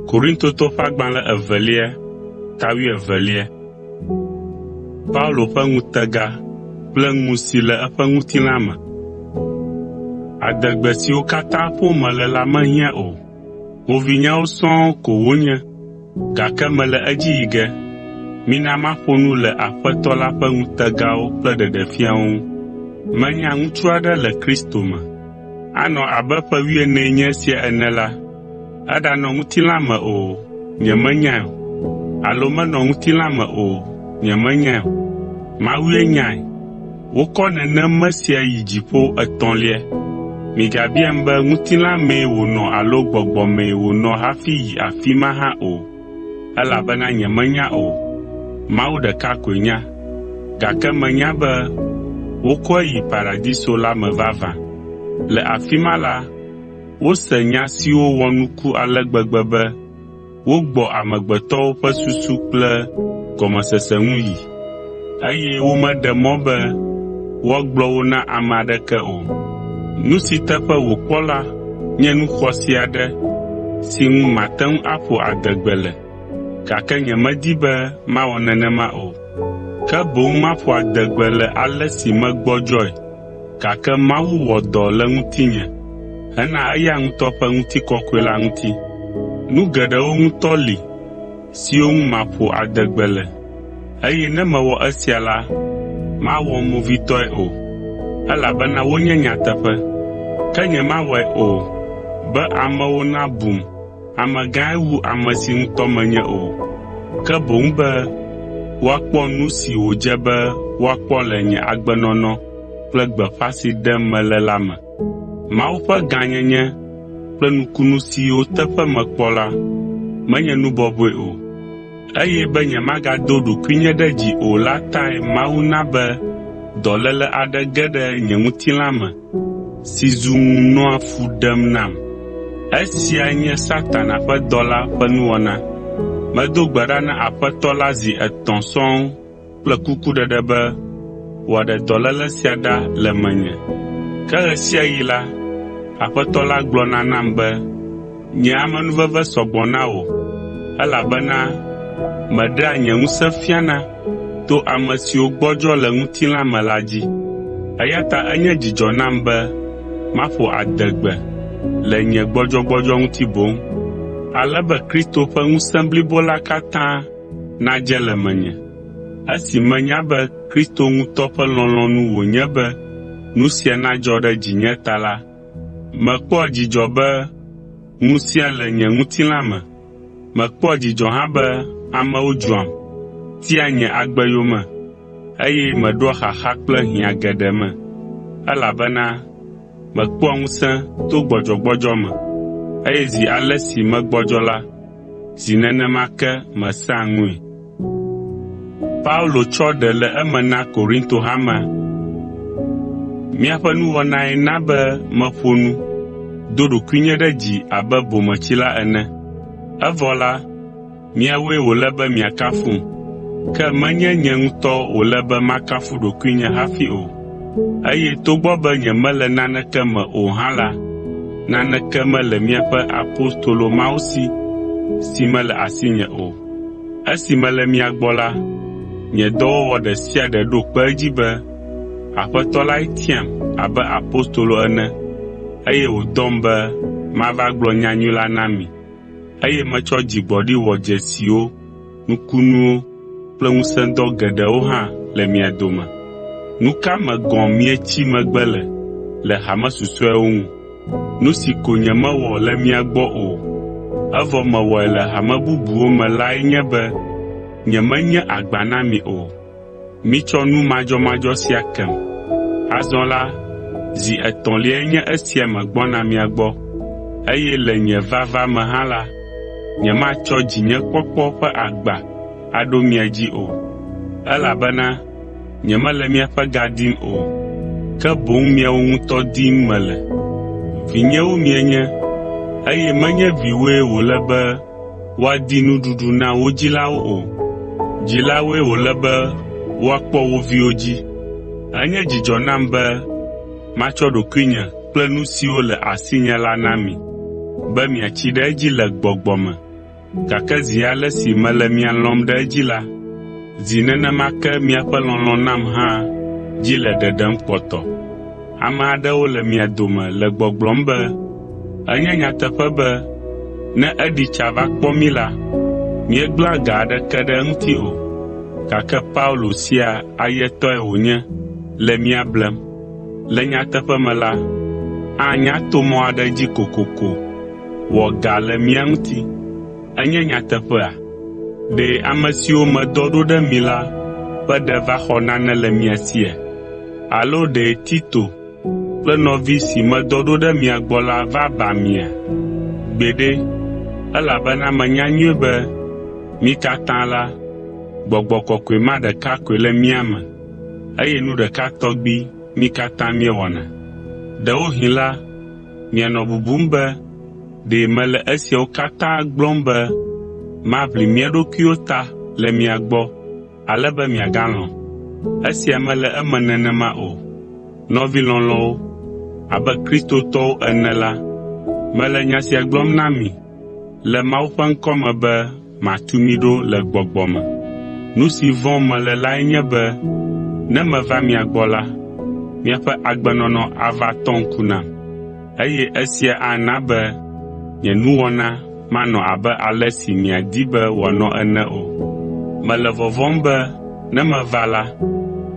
Korintotɔ ƒe agbalẽ evelia ta wuievelia Paulo ƒe ŋutega kple ŋu si le eƒe ŋutilã me. Adegbe siwo katã ƒom mele la mehiã o. Ƒovinyewo sɔŋ ko wonye, gake mele edzi yi ge. Mina maƒo nu le Aƒetɔ la ƒe ŋutegawo kple ɖeɖefiawo ŋu. Menya ŋutsu aɖe le Kristo me, Anɔ abe ƒe wuienee nye esia ene la, eɖanɔ ŋutilã me o, nyemenyae o, alo menɔ ŋutilã me o, nyemenyae o. Mawue nyae. Wokɔ nenem mesia yi dziƒo etɔ̃lia. Migabiam be ŋutilã mee wònɔ alo gbɔgbɔ mee wònɔ hafi yi afi ma hã o. elabena nyemenya o, Mawu ɖeka koe nya. Gake menya be wokɔe yi paradiso la me vavã. Le afi ma la, wose nya siwo wɔ nuku ale gbegbe be wogbɔ amegbetɔwo ƒe susu kple gɔmesese ŋu yi. eye womeɖe mɔ be woagblɔ wo na ame aɖeke o. Nu si teƒe wòkpɔ la nye nu xɔasi aɖe si ŋu mate ŋu aƒo adegbe le, gake nyemedi be mawɔ nenema o. Ke boŋ maƒo adegbe le ale si megbɔdzɔe gake Mawu wɔ dɔ le ŋutinye hena eya ŋutɔ ƒe ŋutikɔkɔe la ŋuti. Nu geɖewo ŋutɔ li. siwo ŋu maƒo ade gbe le, eye ne mewɔ esia la, mawɔm movitɔe o, elabena wonye nyateƒe. Ke nyemawɔe o be amewo nabum amegãe wu ame si ŋutɔ menye o, ke boŋ be woakpɔ nu si wòdze be woakpɔ le nye agbenɔnɔ kple gbeƒã si ɖem mele la me. Mawu ƒe gãnyenye kple nukunu siwo teƒe mekpɔ la menye nu bɔbɔe o, eye be nyemagado ɖokuinye ɖe dzi o la tae Mawu na be dɔléle aɖe ge ɖe nye ŋutilã me si zu ŋu nɔa fu ɖem nam. Esia nye Satana ƒe dɔla ƒe nuwɔna. Medo gbe ɖa na Aƒetɔ la zi etɔ̃ sɔŋ kple kukuɖeɖe be wòaɖe dɔléle sia ɖa le menye. Ke ɣe sia ɣi la, Aƒetɔ la gblɔna nam be, “Nye amenuveve sɔ gbɔ na wò, elabena meɖea nye ŋusẽ fiana to ame siwo gbɔdzɔ le ŋutilã me la dzi.” Eya ta enye dzidzɔ nam be maƒo adegbe le nye gbɔdzɔgbɔdzɔ ŋuti boŋ, ale be Kristo ƒe ŋusẽ blibo la katã nadze le menye. Esi menya be Kristo ŋutɔ ƒe lɔlɔ̃nu wònye be nu sia nadzɔ ɖe dzinye ta la, mekpɔa dzidzɔ be ŋusẽa le nye ŋutilã me. Mekpɔa dzidzɔ hã be amewo dzɔam, tia nye agbe yome, eye meɖoa xaxa kple hiã geɖe me, elabena mekpɔa ŋusẽ to gbɔdzɔgbɔdzɔ me, eye zi ale si megbɔdzɔ la, zi nenema ke mesea ŋui. Paulo tsɔ ɖe le eme na Korinto hamea. Miaƒe nuwɔnae na be meƒo nu do ɖokuinye ɖe dzi abe bometsila ene. Evɔ la, miawoe wòle be miakafum, ke menye nye ŋutɔ wòle be makafu ɖokuinye hafi o. Eye togbɔ be nyemele naneke me o hã la, naneke mele miaƒe apostolo mawo si, si mele asinye o. Esi mele mia gbɔ la, nye dɔwɔwɔ ɖe sia ɖe ɖo kpe edzi be Aƒetɔ lae tiam abe apostolo ene, eye wòdɔm be mava gblɔ nyanyui la na mi, eye metsɔ dzigbɔɖi wɔ dzesi wo. nukunuwo kple ŋusẽdɔ geɖewo hã le mia dome. Nu ka me gɔ̃ mietsi megbe le le hame susɔeawo ŋu? Nu si ko nyemewɔ le mia gbɔ o, evɔ mewɔe le hame bubuwo me lae nye be nyemenye agba na mi o. Mitsɔ nu madzɔmadzɔ sia kem. Azɔ la, zi etɔ̃liae nye esia megbɔna mia gbɔ, eye le nye vava me hã la, nyematsɔ dzinyekpɔkpɔ ƒe agba aɖo mia dzi o, elabena nyemele miaƒe ga dim o, ke boŋ miawo ŋutɔ dim mele. Vinyewo mienye, eye menye viwoe wòle be woadi nuɖuɖu na wo dzilawo o. Dzilawoe wòle be woakpɔ wo viwo dzi. Enye dzidzɔ nam be matsɔ ɖokuinye kple nu siwo le asinye la na mi, be miatsi ɖe edzi le gbɔgbɔ me. Gake zi ale si mele mia lɔ̃m ɖe edzi la, zi nenema ke miaƒe lɔlɔ̃ nam hã dzi le ɖeɖem kpɔtɔ. Ame aɖewo le mia dome le gbɔgblɔm be, “Enye nyateƒe be ne eɖi tsa va kpɔ mí la, míegblẽa ga aɖeke ɖe eŋuti o, gake Paulo sia ayetɔe wònye le mía blem.” Le nyateƒe me la, anya to mɔ aɖe dzi kokoko wɔ ga le mía ŋuti. Enye nyateƒea? Ɖe ame siwo medɔ ɖo ɖe mi la ƒe ɖe va xɔ nane le mia sia? Alo ɖe Tito kple nɔvi si medɔ ɖo ɖe mia gbɔ la va ba mia? Gbeɖe! Elabena menya nyuie be mí katã la, gbɔgbɔ kɔkɔe ma ɖeka koe le mía me, eye nu ɖeka tɔgbi mí katã míewɔna. Ɖewohĩ la, mianɔ bubum be ɖe mele esiawo katã gblɔm be maʋli mía ɖokuiwo ta le mia gbɔ. ale be miagalɔ̃. Esia mele eme nenema o. Nɔvi lɔlɔ̃wo, abe Kristotɔwo ene la, mele nya sia gblɔm na mi le Mawu ƒe ŋkɔ me be matu mi ɖo le gbɔgbɔ me. Nu si vɔ̃m mele lae nye be ne meva mia gbɔ la, miaƒe agbenɔnɔ ava tɔ ŋku nam. eye esia ana be nye nuwɔna manɔ abe ale si miadi be wòanɔ ene o. Mele vɔvɔ̃m be ne meva la,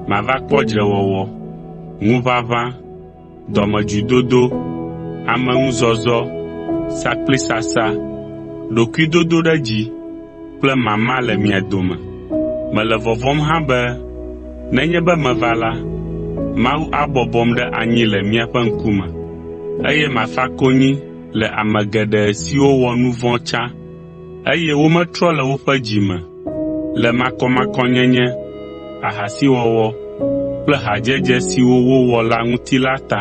mava kpɔ dzrewɔwɔ, ŋuʋaʋã, dɔmedzoedodo, ameŋuzɔzɔ, sakplisasa, ɖokuidodoɖedzi, kple mama le mia dome. Mele vɔvɔ̃m hã be nenye be meva la, Mawu abɔbɔm ɖe anyi le miaƒe ŋkume, eye mafa konyi le ame geɖe siwo wɔ nu vɔ̃ tsã, eye wometrɔ le woƒe dzi me le makɔmakɔnyenye, ahasiwɔwɔ kple hadzedze siwo wowɔ la ŋuti la ta.